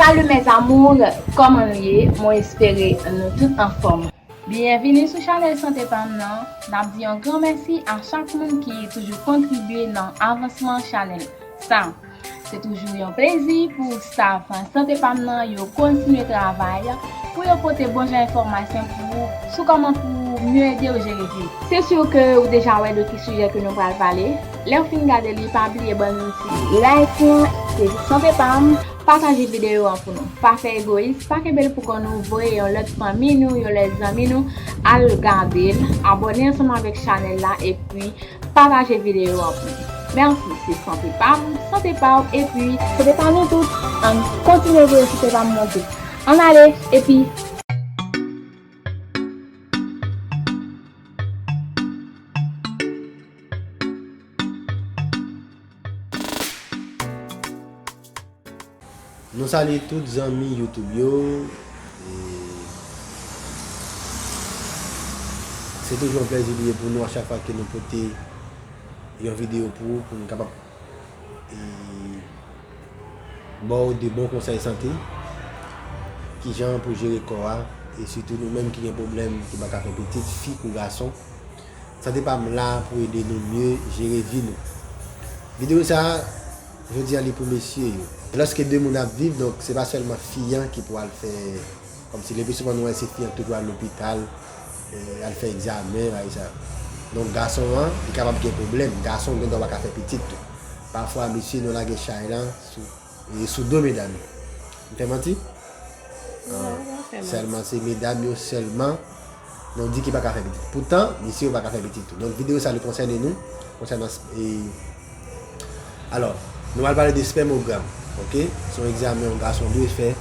Salut mes amours, kòman nou ye? Mwen espere nou tout anfòm. Byenvini sou chanèl Sante Pam nan, n ap di yon gran mèsi a chak moun ki toujou kontribye nan avansman chanèl sa. Se toujou yon plezi pou staff Sante pa m nan yo kontinye travay pou yo pote bon jan enfòmasyon pou ou sou kòman pou ou mye ede ou jere grippe. Se sur ke ou deja wè de ki sijè ke nou pral pale, lè ou fin gade li pa bliye bann yon ti like lan ke di Sante pa m, pataje videyo an pou nou. Pa fè egoyis, pa kenbe l pou kò nou, voye yon lòt fanmi nou, yon lòt zanmi nou al gade l, abòne ansanm avèk chanèl la epi. Pataje video an pou li. Merci se sante pam, sante paw epi. Sante pa nou tout, ann kontinye voye sante pam mwen tou. Ann ale epi. Nou salye tout zanmi YouTube yo e se toujou yon plèzi li ye pou nou a chak fwa ke nou pote yon videyo pou ou pou nou kapab ba ou de bon konsèy sante ki jan pou jere kò a e sitou nou menm ki gen pwoblèm ki pa ka fè pitit fi kou gason. Sante pa m la pou ede nou mye jere vi nou. Video sa jodi an li pou mesye yo. Lòske 2 moun ap viv donk se pa sèlman fi an ki pou al fè kòmsi le pi souvan nou wè se fi an ki toujou al lopital al fè egzamen bagay sa yo donk gason an li kapab gen pwoblèm gason gendwa pa ka fè pitit tou pafwa mesye nou lage chay lan sou E sou do medam yo. M fè manti? An, sèlman se medam yo sèlman nou di ki pa ka fè pitit. Poutan, mesye yo pa ka fè pitit tou. Donk videyo sa li konsène nou, konsènan e Alò, nou pral pale de spèmogram, ok? Se yon egzamen yon gason dwe fè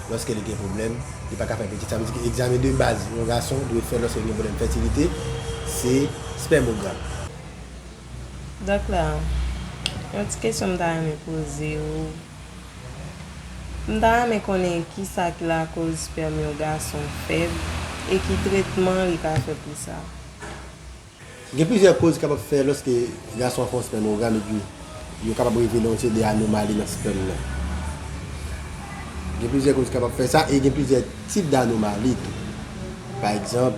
lòske li gen pwoblèm, li pa ka fè pitit. Sa vle di ke egzamen de baz yon gason dwe fè lòske li gen pwoblèm fètilite, se spèmogram. Dòk la, yon ti kesyon m ta renmen poze ou, m ta renmen konnen kisa ki lakoz spèm yon gason fèb e ki tretman li ka fè pou sa? Gen plizyè koz ki kapab fè lòske gason fè yon spèmogram epi yo kapab revele yon seri de anomali nan spèm nan. Gen plizyè koz ki kapab fè sa e gen plizyè tip danomali tou. Pa egzanp.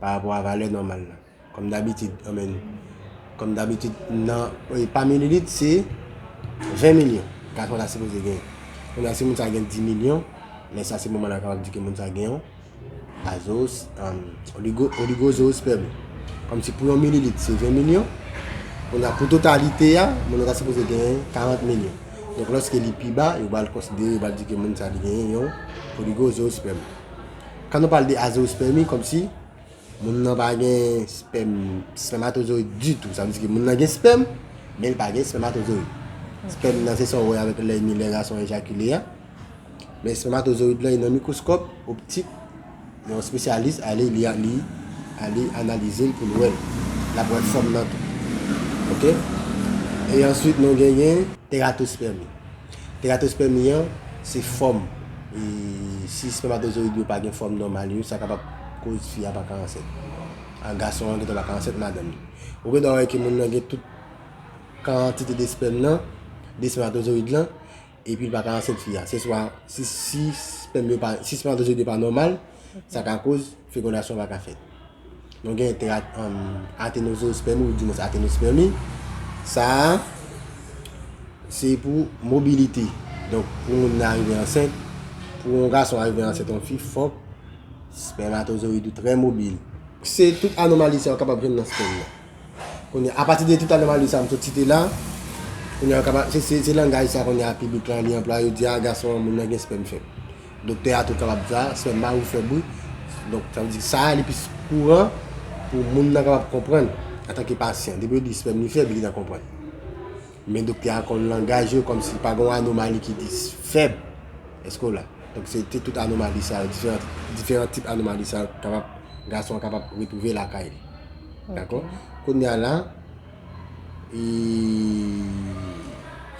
Pa rapò a valè nòmal la. Kòm dabitid, anmè nou. Kòm dabitid, nan, e pa mililit, se 20 milyon gason ta sipoze genyen. Kounye a, si moun sa gen 10 milyon, lè sa se moman nan kapab di ke moun sa gen yon azo, an, oligo, oligozoosperm. Kòm si pou yon mililit se 20 milyon, kounye a, pou totalite a, moun nan ta sipoze genyen 40 milyon. Donk, lòske li pi ba, yo pral konsidere, yo pral di ke moun sa li genyen yon oligozoosperm. Kan nou pale de azospèmi kòmsi moun nan pa gen spèm, spèmatozoyid ditou. Sa vle di ke moun nan gen spèm, men li pa gen spèmatozoyid. Spèm nan se sa ou wè avèk lèy ni lè gason ejakile a. Men spèmatozoyid lan e nan mikwoskòp optik, yon spesyalis ale li analize l pou l wè l. L ap wè fòm nan tou. Ok? E answit nou genyen teratospèmi. Teratospermi an se fòm e si espèmatozoyid yo pa gen fòm nòmal yo sa kapab koz fi a pa ka ansent. A gason an gendwa pa ka ansent madanm li. Ou gendwa wè ke moun nan gen tout kantite de espèm nan, de espèmatozoyid lan epi li pa ka ansent fi a. Se swa si espèm yo pa, si espèmatozoyid yo pa nòmal sa ka koz Fekondasyon pa ka fèt. Nou gen trak atenozoospermi ou dimwens atenospermi. Sa a, se pou mobilite. Donk, pou moun nan arive ansent, pou yon gason arive ansent yon fi, fòk spèmatozoyid ou trè mobil. Se tout anomali sa yo kapab jwenn nan spèm nan. Kounye a, apati de tout anomali sa yo m sot site la, kounye a yo kapab, se langaj sa kounye a piblik lan li anplwaye, yo di a gason an moun nan gen spèm fèb. Doktè a tou kapab di sa, sè m mari w fè bri. Donk, sa vle di sa a li plis kouran pou moun nan kapab konprann antanke pasyan. Depi yo di spèm li fèb, li gintan konprann. Men doktè a konn langaj yo kòm si pa gen yon anomali ki di fèb. Èske w la? Donk, se te tout anomali sa yo, diferan tip anomali sa yo kapab, gason an kapab retwouve lakay li. Dakò? Kounye a la,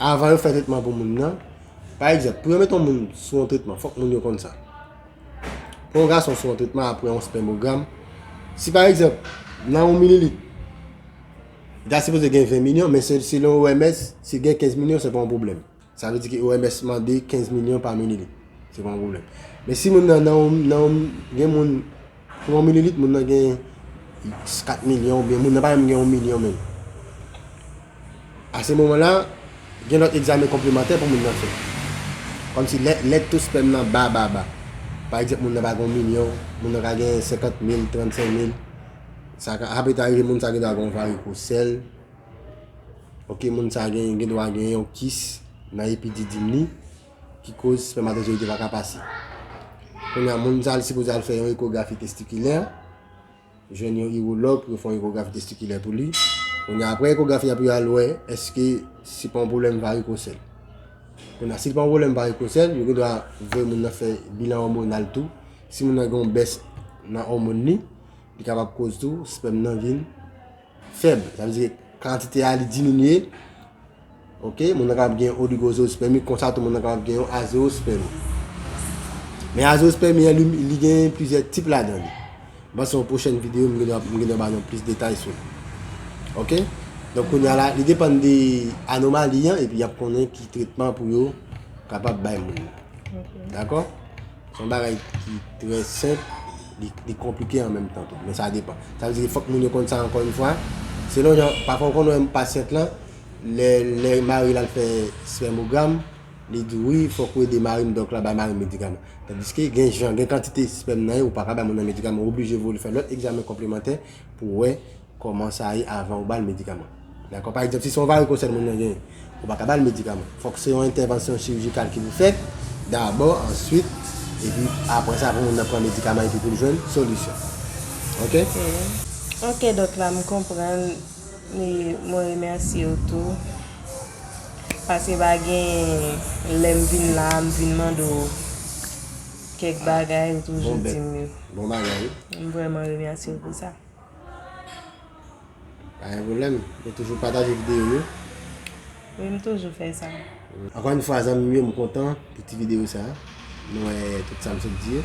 avan yo fè tretman pou moun nan, Pa egzanp, pou yo met yon moun sou yon tretman, fòk moun yo konn sa. Pou yon gason sou yon tretman apre yon spèmogram, si pa egzanp, nan yon mililit, ta sipoze gen 20 milyon, men selon OMS, si gen 15 milyon, se pa yon pwoblèm. Sa vle di ki OMS mande 15 milyon pa mililit. Se pa yon pwoblèm. Men si moun nan, nan yon, gen moun. Pou yon mililit moun nan gen 4 milyon oubyen moun nan pa menm gen yon milyon menm. A se moman la, gen lòt egzamen konplemantè pou moun nan fè. Kòmsi lè to spèm nan ba ba ba. Pa egzanp moun nan pa gen yon milyon, moun nan ka gen 50 mil, 35 mil. Sa ka ape ta rive moun sa gen dwa gen yon varikosèl. Ok moun sa gen dwa gen yon kis nan epididim li. Ki koz spèmatozoyid yo pa ka pase. Kounya moun sa li sipoze al fè yon ekografi testikilè, jwenn yon iwològ pou yo fè yon ekografi testikilè pou li. Kounya apre ekografi a pou yo al wè eske se pa yon pwoblèm varikosèl. Kounya si se pa yon pwoblèm varikosèl, yo gen dwa voye moun nan fè bilan òmonal tou. Si moun nan gen yon bès nan òmòn li, li kapab koz tou spèm nan vin. Fèb, sa vle di kantite a li diminye, ok, moun nan kapab gen yon oligozospèmi, konsa tou moun nan kapab gen yon azospèmi. Men azospèmi an li gen plizyè tip ladan li. Mwen se yon pwochèn videyo mwen gen dwa ba nou plis detay sou li. Ok, donk kounye a la, li depann de anomali an epi y ap konnen ki tretman pou yo kapab bay moun nan. Dakò? Se yon bagay ki trè senp, li konplike an menm tan tou, men sa depan. Sa vle di fòk moun yo konn sa ankò yon fwa, selon jan, pafwa ou konn wè pasyant lan, lè mari l al fè spèmogram, li di wi fòk ou ede mari m, donk la bay mari m medikaman. Tandiske gen jan, gen kantite spèm nan ye, ou pa ka bay moun nan medikaman, ou oblije voye l fè lòt egzamen konplemantè pou wè. Kòman sa ye avan ou ba l medikaman. Dakò? Pa egzanp, si se yon varikosèl moun nan genyen, ou pa ka ba l medikaman. Fòk se yon entèvansyon chirijikal ki pou fèt dabò, answit, epi apre sa pou moun nan pran medikaman epi pou l jwenn solisyon. Ok? Ok doktla m konprann e mwen remèsye w tou. Paske pa gen lè m vin la a m vin mande w kèk bagay ou toujou di m yo. Bon bagay. M vrèman remèsye w pou sa. Pa gen pwoblèm, mwen toujou pataje videyo yo. Wi, m toujou fè sa. Ankò yon fwa zanmi m yo, m kontan pou ti videyo sa. M wè tout sa m sot di yo.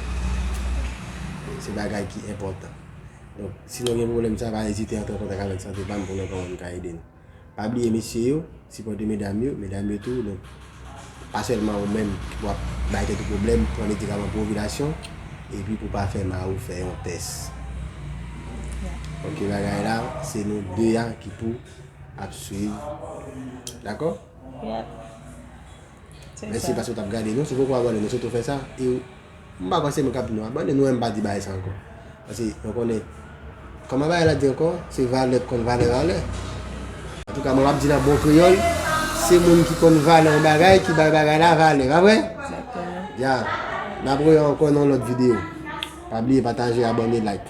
Se bagay ki enpòtan. Donk, si nou gen pwoblèm sa, pa ezite antre an kontak avèk Sante Pam pou nou wè kòman nou ka ede nou. Pa bliye mesye yo sipòte medam yo, medam yo tou donk pa sèlman ou menm ki pou ap bay tèt ou pwoblèm, pran medikaman pou ovilasyon epi pou pa fè mariw fè yon tès ok bagay la se nou 2 a ki pou ap swiv dakò mèsi paske ou tap gade nou si ou poko abòne nou swete ou fè sa. M pa kwè se mwen k ap di nou abone nou men m pa di bagay sa ankò. Paske mwen konnen kòman bagay la di ankò se valè k konn valè valè. Antouka mwen m ap di l an bon kreyòl se moun ki konn valè yon bagay ki bay bagay la valè. Pa vre? Ya! N ap wè ankò nan yon lòt videyo. Pa bliye pataje, abone, like.